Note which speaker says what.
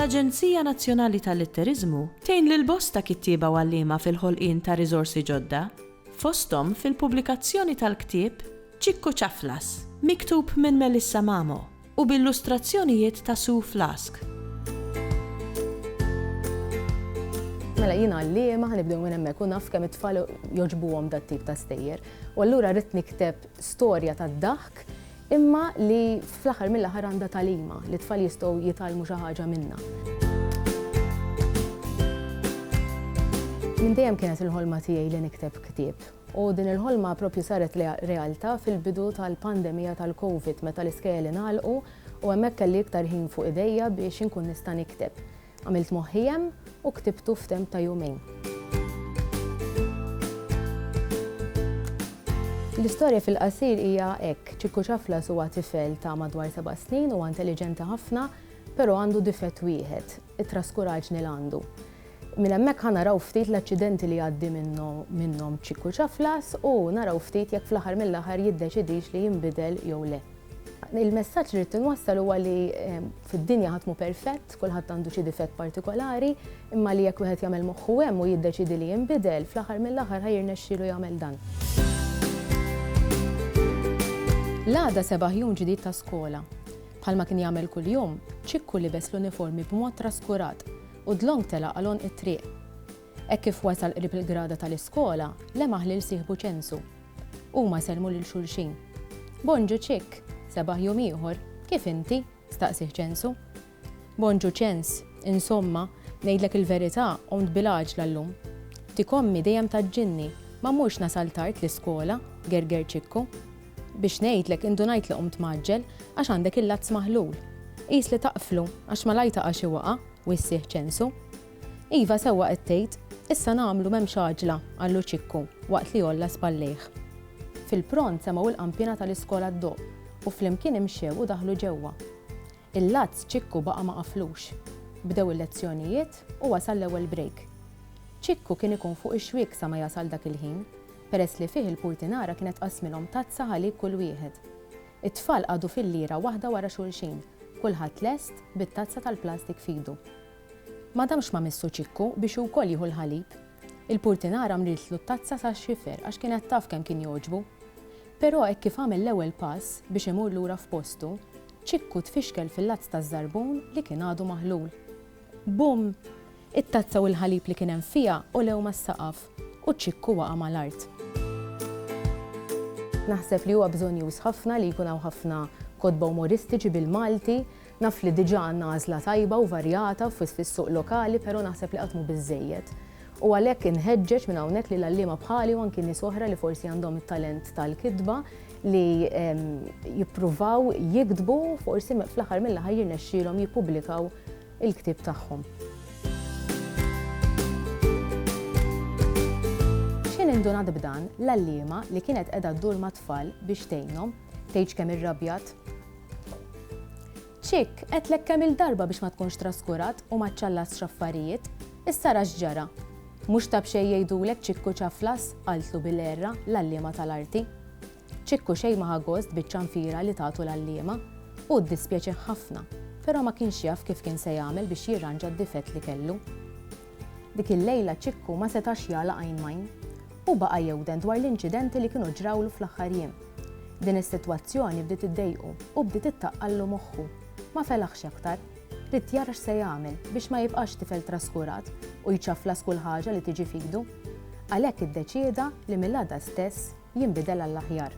Speaker 1: L-Aġenzija Nazzjonali tal-Litteriżmu tgħin lil bosta kittieba u għalliema fil-ħolqien ta' riżorsi ġodda, fosthom fil-pubblikazzjoni tal-ktieb Ċikku Ċaflas, miktub minn Melissa Mamo. u b'illustrazzjonijiet ta' Sue Flask.
Speaker 2: Mela jien għalliema, ħanibdew minn hemmhekk u naf kemm it-tfal jogħġbuhom dat-tip ta' stejjer. U allura rrid nikteb storja tad-daħk imma li fl-aħħar mill-aħħar għandha tagħlima li t-tfal jistgħu jitgħallmu xi ħaġa minnha. Minn dejjem kienet il-ħolma tiegħi li nikteb ktieb. U din il-ħolma proprju saret realtà fil-bidu tal-pandemija tal-Covid meta l-iskejjel ingħalqu u hemmhekk kelli iktar ħin fuq idejja biex inkun nista' nikteb. Għamilt moħħi hemm u ktibtu f'temp ta' jumejn. L-istorja fil-qasir hija hekk, Ċikku Ċaflas huwa tifel ta' madwar seba' snin, huwa intelliġenti ħafna, però għandu difett wieħed, it-traskuraġni l-għandu. Minn hemmhekk ħa naraw ftit l-aċċidenti li jgħaddi minnhom Ċiku Ċaflas u naraw ftit jekk fl-aħħar mill-aħħar jiddeċidix li jinbidel jew le. Il-messaġġ li rrid inwassal huwa li fid-dinja ħadd mhu perfett, kulħadd għandu xi difett partikolari, imma li jekk wieħed jagħmel moħħu hemm u jiddeċiedi li jinbidel, fl-aħħar mill-aħħar ħa jirnexxielu jagħmel dan. L-għada seba' ħjun ġdid ta' skola. Bħalma kien jagħmel kuljum, Ċikku libes l-uniformi b'mod traskurat. U dlonk telaq għal għonq it-triq. Hekk kif wasal qrib il-grada tal-iskola, lema' ħliel sieħbu ċensu. Huma sellmu lil xulxin. Bonġu Ċikk! Sebaħ jum ieħor! Kif inti? staqsieh ċensu. Bonġu Ċens! Insomma, ngħidlek il-verità, qomt bil-għaġla llum. Dik ommi dejjem tgħaġġilni, ma mmurx nasal tard l-iskola, gerger Ċikku. Biex ngħidlek, indunajt li qumt mgħaġġel, għax għandek il-lazz maħlul. Qis li taqflu, għax malajr taqa' xi waqgħa, u jissieħ ċensu. Iva, sewwa qed tgħid, issa nagħmlu m'hemmx għaġla, qallu Ċikku, waqt li għolla spallejh. Fil-pront semgħu l-qanpiena tal-iskola ddoqq, u flimkien imxew u daħlu ġewwa. Il-Lazz Ċikku baqa' ma qaflux. Bdew il-lezzjonijiet u wasal l-ewwel break. Ċikku kien ikun fuq ix-xwiek sa ma jasal dak il-ħin, peress li fih il-purtinara kienet tqassmilhom tazza ħalik kull wieħed. It-tfal qagħdu fil-lira waħda wara xulxin, kulħadd lest bit-tazza tal-plastik f'idu. Ma damx ma' missu Ċikku biex hu wkoll jieħu l-ħalib. Il-purtinara mriedtlu t-tazza sal-xifer għax kienet taf kemm kien jogħġbu. Però hekk kif għamel l-ewwel pass biex imur lura f'postu, Ċikku tfixkel fil-lazz taż-żarbun li kien għadu maħlul. Bum! It-tazza u l-ħalib li kien hemm fiha għolew mas-saqaf u Ċikku waqa' mal-art. Naħseb li huwa bżonnjuż ħafna li jkun hawn ħafna kotba umoristiċi bil-Malti Naf li diġà għandna għażla tajba u varjata fis-suq lokali però naħseb li qatt mhu biżżejjed. U għalhekk inħeġġeġ minn hawnhekk lil għalliema bħali u anki nies oħra li forsi għandhom it-talent tal-kitba li jippruvaw jiktbu u forsi fl-aħħar mill-aħħar jirnexxielhom jippubblikaw il-ktieb tagħhom. X'ħin indunat b'dan, l-għalliema li kienet qiegħda ddur mat-tfal biex tgħinhom, tgħidx kemm irrabjat. Chick, għedtlek kemm-il darba biex ma tkunx traskurat u ma ċċallasx affarijiet. Issa ara x'ġara. Mhux ta' b'xejn jgħidulek Ċikku ċaflas, qaltlu bil-għerra l-għalliema tal-arti. Ċikku xejn ma ħa gost biċ-ċanfira li tagħtu l-għalliema. Hu ddispjaċih ħafna, però ma kienx jaf kif kien se jagħmel biex jirranġa d-difett li kellu. Dik il-lejla Ċikku ma setax jagħlaq għajn m'għajn. Hu baqa' jewden dwar l-inċidenti li kienu ġrawlu fl-aħħar jiem. Din is-sitwazzjoni bdiet iddejqu u bdiet ittaqqallu moħħu. Ma felaħx aktar. Ried jara x'se jagħmel biex ma jibqax tifel traskurat u jċaflas kull ħaġa li tiġi f'idu. Għalhekk iddeċieda li mill-għada stess jinbidel għall-aħjar.